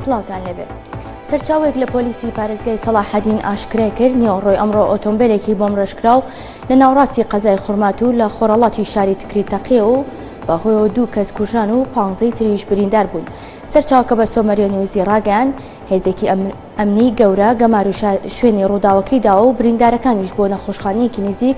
سڵاوتان لەبێت سەرچاوێک لە پۆلیسی پارێزگای سەڵاحەدین ئاشکرای کرد نیۆڕۆی ئەمڕۆ ئۆتۆمبیلێکی بۆم ڕێژکراو لە ناوڕاستی قەزای خورمات و لە خۆرەڵاتی شاری تکری تەقیە و بەهۆیەوە دوو کەس کوژان و پانزەی تریش بریندار بوون سەرچاوکە بە سۆمەریە نیوزی ڕاگەیان هێزێکی ئەمنی گەورە گەمار و شوێنی ڕووداوەکەی داوە و بریندارەکانیش بۆ نەخۆشخانەیەکی نزیک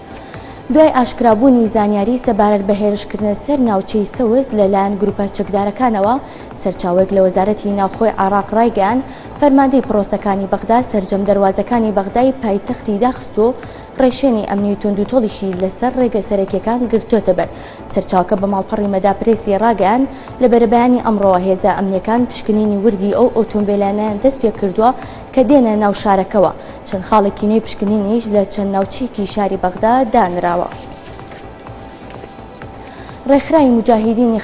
دوای ئاشکرابوونی زانیاری سەبارەت بە هێرشکردنە سەر ناوچەی سەوز لەلایەن گروپە چەکدارەکانەوە، سەرچاوەیەک لە وەزارەتی ناوخۆی عێراق ڕایگەیاند، فەرماندەی پڕۆسەکانی بەغدا سەرجەم دەروازەکانی بەغدای پایتەختی داخستووە و ڕێشێنی ئەمنی و توندوتۆڵیشی لەسەر ڕێگە سەرەکییەکان گرتۆتەبەر. سەرچاوەکە بە ماڵپەڕی مەدا پرێسی ڕاگەیاند، لە بەرەبەیانی ئەمڕۆوە هێزە ئەمنییەکان پشکنینی وردی ئەو ئۆتۆمبێلانەیان دەستپێکردووە کە دێنە ناو شارەکەوە، چەند خاڵێکی نوێی پشکنینیش لە چەند ناوچەیەکی شاری بەغدا دانراوە. ڕێکخراوی موجاهیدینی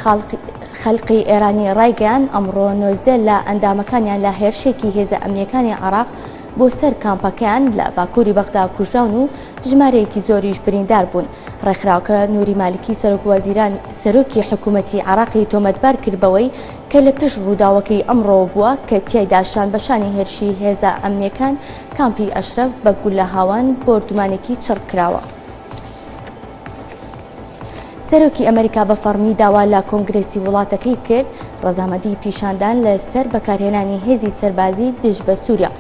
خەلقی ئێرانی ڕایگەیان ئەمڕۆ نۆزدە لە ئەندامەکانیان لە هێرشێکی هێزە ئەمنیەکانی عراق بۆ سەر کامپەکەیان لە باکووری بەغدا کوژراون و ژمارەیەکی زۆریش بریندار بوون ڕێکخراوکە نوری مالکی سەرۆک وەزیران سەرۆکی حکوومەتی عراقی تۆمەتبار کرد بەوەی کە لە پشت ڕووداوەکەی ئەمڕۆوە بووە کە تیایدا شانبەشانی هێرشی هێزە ئەمنییەکان کامپی ئەشرەف بە گوللە هاوان بۆردومانێکی چڕ کراوە. سەرۆکی ئەمەریکا بە فەڕمی داوا لە کۆنگرێسی وڵاتەکەی کرد ڕەزامەدی پیشاندان لە سەر بەکارهێنانی هێزی سەربازی دژ بە سووریا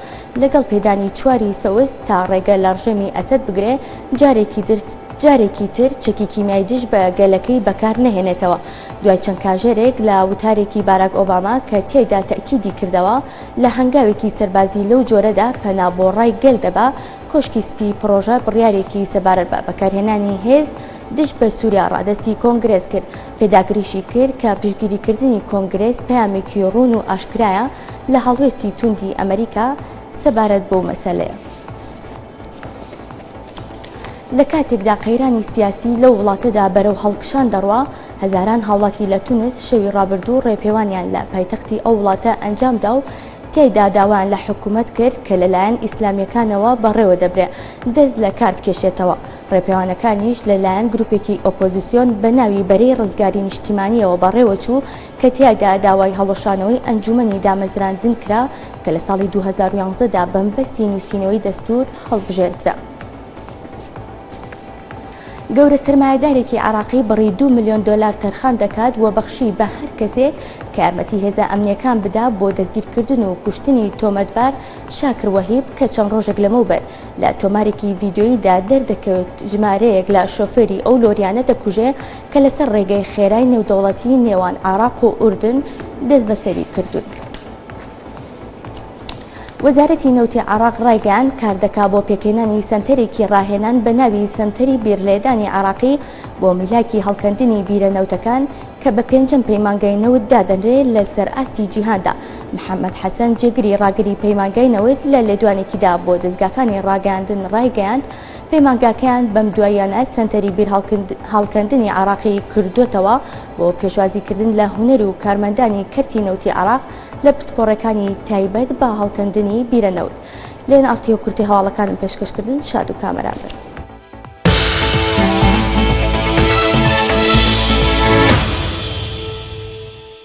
لەگەڵ پێدانی چواری سەوز تا ڕێگە لە ڕژێمی ئەسەد بگرێ جارێکی درت جارێکی تر چەکی کیمیای دژ بە گەلەکەی بەکار نەهێنێتەوە دوای چەند کاژێرێک لە وتارێکی باراک ئۆباما کە تیایدا تەئکیدی کردەوە لە هەنگاوێکی سەربازی لەو جۆرەدا پەنا بۆ ڕای گەل دەبا، کۆشکی سپی پڕۆژە بڕیارێکی سەبارەت بە بەکارهێنانی هێز دژ بە سوریا ڕادەستی کۆنگرێس کرد، پێداگریشی کرد کە پشتگیریکردنی کۆنگرێس پەیامێکی ڕوون و ئاشکرایە لە هەڵوێستی توندی ئەمەریکا سەبارەت بەو مەسەلەیە. لە کاتێکدا قەیرانی سیاسی لەو وڵاتەدا بەرەو هەڵکشان دەڕوا هەزاران هاوڵاتی لە تونس شەوی ڕابردوو ڕێپێوانیان لە پایتەختی ئەو وڵاتە ئەنجامدا و تیایدا داوایان لە حکوومەت کرد کە لەلایەن ئیسلامیەکانەوە بەڕێوە دەبرێ دەست لە کار بکێشێتەوە ڕێپێوانەکانیش لەلایەن گروپێکی ئۆپۆزیسیۆن بە ناوی بەرەی ڕزگاری نیشتیمانیەوە بەڕێوەچوو کە تیایدا داوای هەڵوەشانەوەی ئەنجومەنی دامەزراندن کرا کە لە ساڵی دوو هەزار و یازدە دا بەمبەستی نووسینەوەی دەستوور هەڵبژێردرا. گەورە سەرمایەدارێکی عێراقی بڕی دوو ملیۆن دۆلار تەرخان دەکات و بەخشی بە هەر کەسێک کە یارمەتی هێزە ئەمنیەکان بدا بۆ دەستگیرکردن و کوشتنی تۆمەتبار شاکر وەهیب کە چەند ڕۆژێک لەمەوبەر لە تۆمارێکی ڤیدیۆییدا دەردەکەوێت ژمارەیەک لە شۆفێری ئەو لۆریانە دەکوژێ کە لەسەر ڕێگەی خێرای نێودەوڵەتیی نێوان عێراق و ئوردن دەستبەسەری کردوون. وەزارەتی نەوتی عێراق ڕایگەیاند، کاردەکا بۆ پێکهێنانی سەنتەرێکی ڕاهێنان بە ناوی سەنتەری بیرلێدانی عێراقی بۆ میلاکی هەڵکەندنی بیرە نەوتەکان کە بە پێنجەم پەیمانگای نەوت دادەنرێ لەسەر ئاستی جیهاندا. محەممەد حەسەن جێگری ڕاگری پەیمانگای نەوت لە لێدوانێکیدا بۆ دەزگاکانی ڕاگەیاندن ڕایگەیاند، پەیمانگاکەیان بەم دواییانە سەنتەری بیرهەڵکەندنی عێراقی کردۆتەوە بۆ پێشوازیکردن لە هونەر و کارمەندانی کەرتی نەوتی عێراق لە پسپۆڕەکانی تایبەت بە هەڵکەندنی بیرە نەوت لێن ئارتیۆ کورتی هەواڵەکانم پێشکەشکردن شاد و کامەران بن.